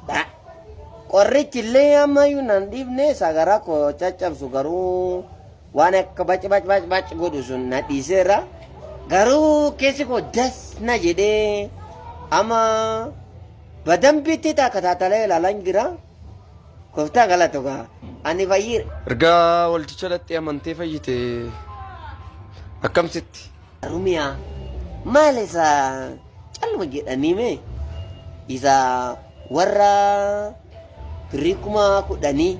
Bra. Qorrichi illee ammayyuu nan dhiifne sagara koo caccabsu garuu waan akka bac bac bac bac godhu sun na dhiiseera. Garuu keessi koo das na jedhee amma badambitti takkataatalee ilaalan jira. Gooftaa galatu gaa ani fayyiira. Erga waldicha dhaqxee amantee fayyite akkamsitti? Rumiyaa maal isa Calluma jedhanii mee isa warra birrii kuma kudhanii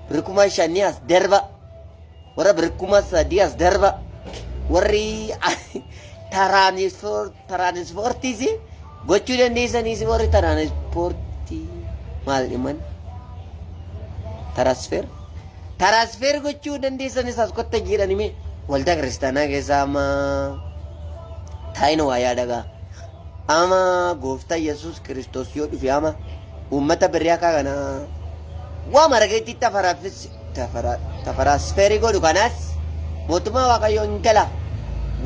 birrii kuma shanii as darba warra birrii kuma sadii as darba warri taraanispoortiis gochuu dandeessaniis warri taraanispoortii maal dhiman tarasfeer. Taraasfeer gochuu dandeessanis as kotta jiidhani mee waldaa kiristaanaa keessaa amma taa'ina waa yaadagaa. Ama gooftaa Yesuus Kiristoos yoo dhufe ama uummata birrii akka kana waa marageetti tafaraafis tafaraasfeerii godhu kanaas mootummaa waaqayyoo hin gala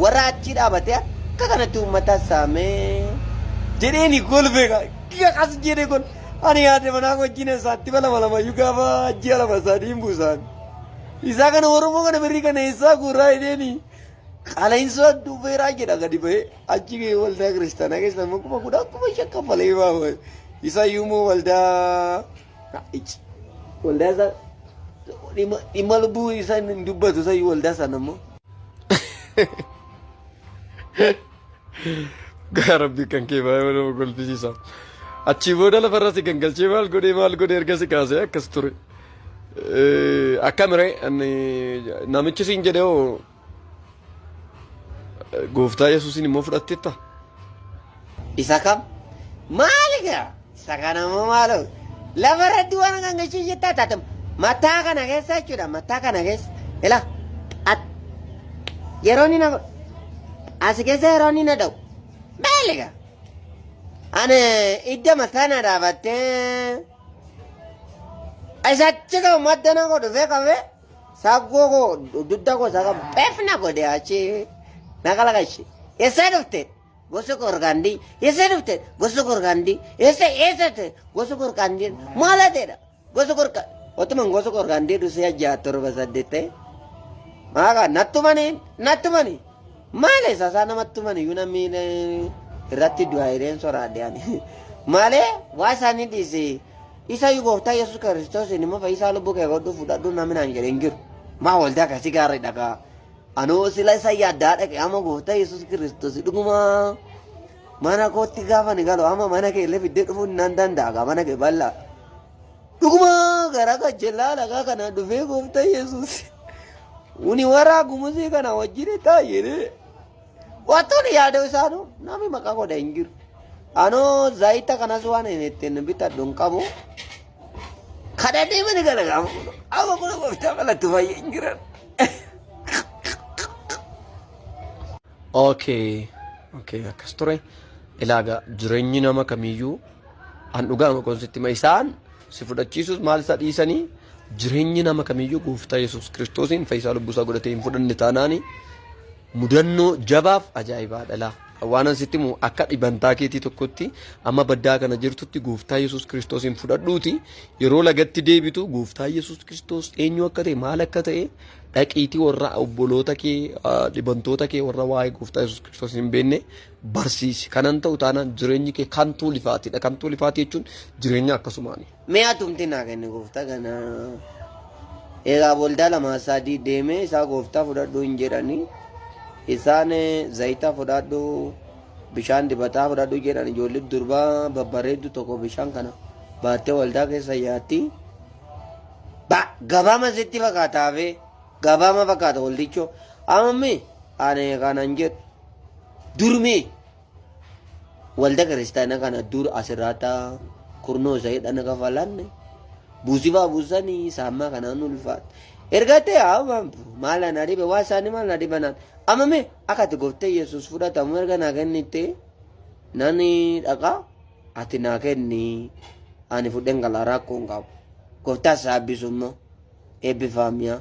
warra achii dhaabatee akka kanatti uummata saamee jedheeni golbeeka. Gas jedhee gol. Ani yaade manaa wajjin eessaatti balabalamayyuu gaafa ji'a lama sadii hin buusaan. Isaa kana Oromoo kana birrii kana eessaa guuraa jedheeni qala'insoo duubeeraa jedha gadi bahee achi waldaa kiristaanaa keessa immoo kuma kudha kuma shan kaffalee baafame. Isa iyyuu immoo waldaa ichi waldaa isaa dhimma dhimma lubbuu isaa hin dubbatu isa iyyuu waldaa sana immoo. Gaa rabbi kan kee baay'ee nama kolfisiisa. Achii booda lafarra si gangalchee maal godhee maal godhee erga si kaasee akkas ture. Eh, Akkamire ani namichi siin jedhee hoo gooftaa Yesuusiin immoo fudhatteetta. Isa kam? Maali gaa? Isa kana immoo maaloo lafa irratti waan akka gachuu jettaa taate mataa kana keessa jechuudha mataa kana keessa ila at yeroo inni na godhu as keessa yeroo inni na dha'u beeliga ani idda mataa na dhaabattee isachi kan madda na godhu fee qabee saggoo koo dudda koo isaa qabu beef na godhe achi na kalaqashi eessaa dhufte. Gosa Gorgaandii eessa dhufte? Gosa Gorgaandii eessa eessa ta'e? Gosa Gorgaandii maal hateedha? Gosa Gorga otuman gosa Gorgaandii dhusee ja'a torba saddeet ta'e. Maaqa nattumanii nattumanii maale sasaa namattumanii iyyuu namni eh, irratti du'aa hireen soraadiyaan maale waa isaanii dhiise isa iyyuu gooftaa Yesuus Kiristoos inni immoo fayyisaa lubbuu kee godhu fudhadhu namni naan jedhe hin jiru maa waldaa akkasii gaarii dhagaa Anoo sila isa yaaddaa dhaqe amma gooftaa Yesuus Kiristoos dhugumaa mana kootti gaafa ni galu amma mana kee illee fiddee dhufuu nan danda'a mana kee bal'aa. Dhugumaa gara gajjellaa lagaa kana dhufee gooftaa Yesuus uni warraa gumusii kana wajjin taa'ee wantoonni yaadoo isaanuu namni maqaa godha hin jiru. Anoo zaayita kanas waan hin ittiin bitadhu hin qabu. Kana deemani kana gaafa fuudhu. Amma kun gooftaa malatti fayyee hin jiran. Okay. Okay, akkas ture. Ilaaga jireenyi nama kamiyyuu an dhugaa makoon sitti ma isaan si fudhachiisus maal isa dhiisanii jireenyi nama kamiyyuu gooftaa Yesuus Kiristoosiin fayyisaa lubbuusaa godhatee hin fudhanne taanaanii Mudannoo jabaaf ajaa'ibaa dhalaa. Waanan sitti himu akka dhibantaa keetii tokkotti amma baddaa kana jirtutti gooftaa Yesuus Kiristoosiin fudhadhuuti yeroo lagatti deebitu gooftaa Yesuus Kiristoos eenyu akka ta'e maal akka ta'e dhaqiitii warra obboloota kee ah, dhibantoota kee warra waa'ee gooftaa Yesuus Kiristoos hin beekne barsiisi. Kanan ta'u taanaan jireenyi kee kan tuulifaatidha. Kan tuulifaatii jechuun jireenya akkasumaani. Mee atumti naa kenni gooftaa kana. Egaa waldaa lama sadii deemee isaa gooftaa fudhadhu hin jedhani. Isaan eh, zayita fudhadhu bishaan dibataa fudhadhu jedhan ijoollee durbaa babbareeddu tokko bishaan kana baattee waldaa keessa yaatti. Ba gabaama sitti fakkaataafe gabaama fakkaata waldichoo. Ammi ani kanan jedhu durmii walda kiristaana kana dur asirraata kurnoo isa hidhana kafalanne buusifaa buusanii saammaa kanaan ulfaat erga ta'e haamam maal ana dhibe waa isaanii maal na dhibanaan amma mee akka ati goftee yesus fudhatamu erga naa kennitte nani dhaqa ati naa kenni ani fudhen gala rakkoo hin qabu goftaa saabbisu immoo eebbifaamiyaa.